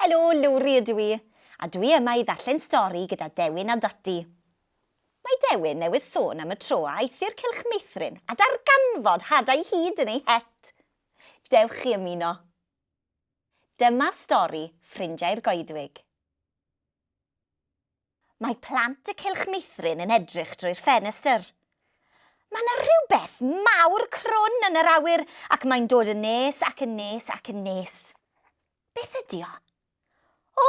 Helo, Lowri ydw i, a dwi yma i ddarllen stori gyda Dewin a Dati. Mae Dewin newydd sôn am y tro a aeth i'r cylch meithrin a darganfod hadau hud yn ei het. Dewch chi ymuno. Dyma stori Ffrindiau'r Goedwig. Mae plant y Cylch Meithrin yn edrych drwy'r ffenestr. Mae 'na rhywbeth mawr crwn yn yr awyr ac mae'n dod yn nes ac yn nes ac yn nes. Beth ydi o? O!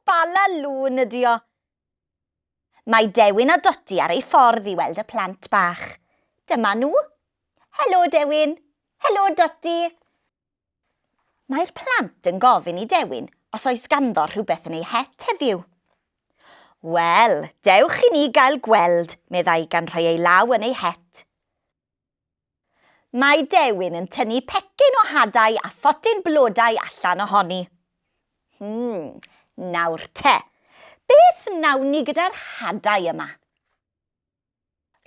Bala lŵn ydi o! Mae Dewin a Dodi ar eu ffordd i weld y plant bach. Dyma nhw. Helo, Dewin. Helo, Dodi. Mae'r plant yn gofyn i Dewin os oes ganddo rhywbeth yn ei het heddiw. Wel, dewch i ni gael gweld, meddai gan rhoi ei law yn ei het. Mae Dewin yn tynnu pecyn o hadau a photyn blodau allan ohoni. Hmm, nawr te, beth wnawn ni gyda'r hadau yma?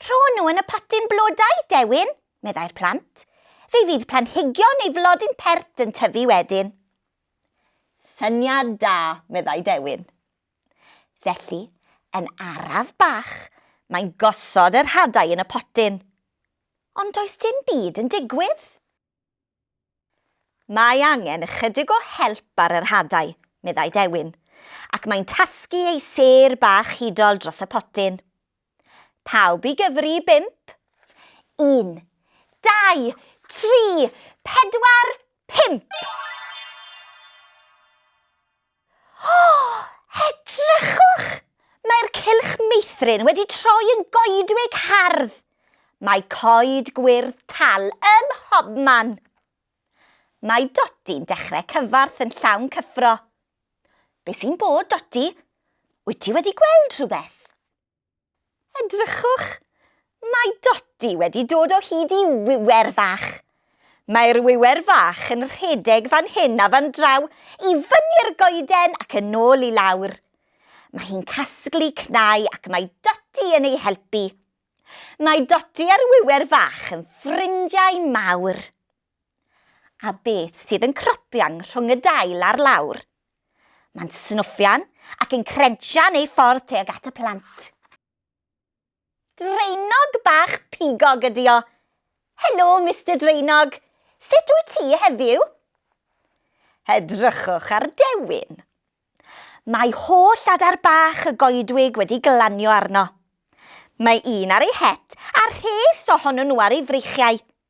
Rho nhw yn y potyn blodau, Dewin, meddai'r plant. Fe fydd planhigion neu flodyn pert yn tyfu wedyn. Syniad da, meddai Dewin. Felly, yn araf bach, mae'n gosod yr hadau yn y potyn. Ond does dim byd yn digwydd. Mae angen ychydig o help ar yr hadau, meddai Dewin, ac mae'n tasgu ei sêr bach hudol dros y potyn. Pawb i gyfri i bump? Un, dau, tri, pedwar, pump! O! Edrychwch! Mae'r cylch meithrin wedi troi yn goedwig hardd! Mae coed gwyrdd tal ym mhobman! Mae Dodi'n dechrau cyfarth yn llawn cyffro. Be sy'n bod, Dodi? Wyt ti wedi gweld rhywbeth? Edrychwch, mae Doti wedi dod o hyd i wiwer fach. Mae'r wiwer fach yn rhedeg fan hyn a fan draw, i fyny'r goeden ac yn ôl i lawr. Mae hi'n casglu cnau ac mae Doti yn ei helpu. Mae Doti a'r wiwer fach yn ffrindiau mawr. A beth sydd yn cropian rhwng y dail a'r lawr? Mae'n snwffian ac yn crensian ei ffordd tuag at y plant. Draenog bach pigog ydi o. Helo, Mister Draenog. Sut wyt ti heddiw? Edrychwch ar Dewin. Mae holl adar bach y goedwig wedi glanio arno. Mae un ar ei het a rhes ohonyn nhw ar ei freichiau.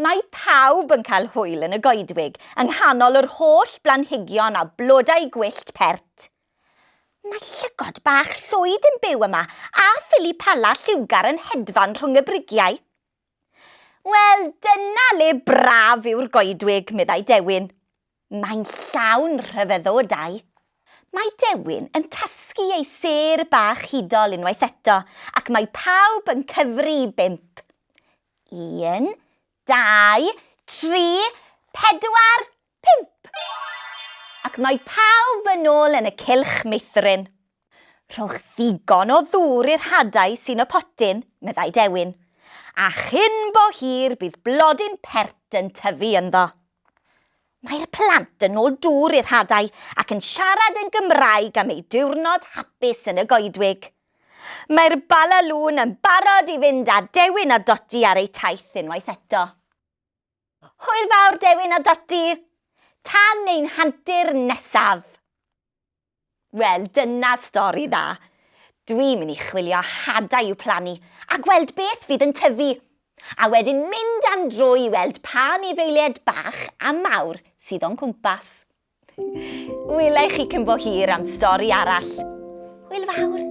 Mae pawb yn cael hwyl yn y goedwig yng nghanol yr holl blanhigion a blodau gwyllt pert. Mae llygod bach llwyd yn byw yma a phili pala lliwgar yn hedfan rhwng y brigiau. Wel, dyna le braf yw'r goedwig, meddai Dewin. Mae'n llawn rhyfeddodau. Mae Dewin yn tasgu ei sêr bach hudol unwaith eto ac mae pawb yn cyfri i bump. Un, dau, tri, pedwar, pump! Ac mae pawb yn ôl yn y cylch meithrin. Rhowch ddigon o ddŵr i'r hadau sy'n y potyn, meddai Dewin, a chyn bo hir bydd blodyn pert yn tyfu ynddo. Mae'r plant yn ôl dŵr i'r hadau ac yn siarad yn Gymraeg am eu diwrnod hapus yn y goedwig. Mae'r Bala Lŵn yn barod i fynd â Dewin a Dodi ar eu taith unwaith eto. Hwyl fawr Dewin a Doti! Tan ein hantur nesaf! Wel, dyna stori dda. Dwi'n mynd i chwilio hadau i'w plannu a gweld beth fydd yn tyfu, a wedyn mynd am dro i weld pa anifeiliaid bach a mawr sydd o'n cwmpas. Wela i chi cyn bo hir am stori arall. Hwyl fawr!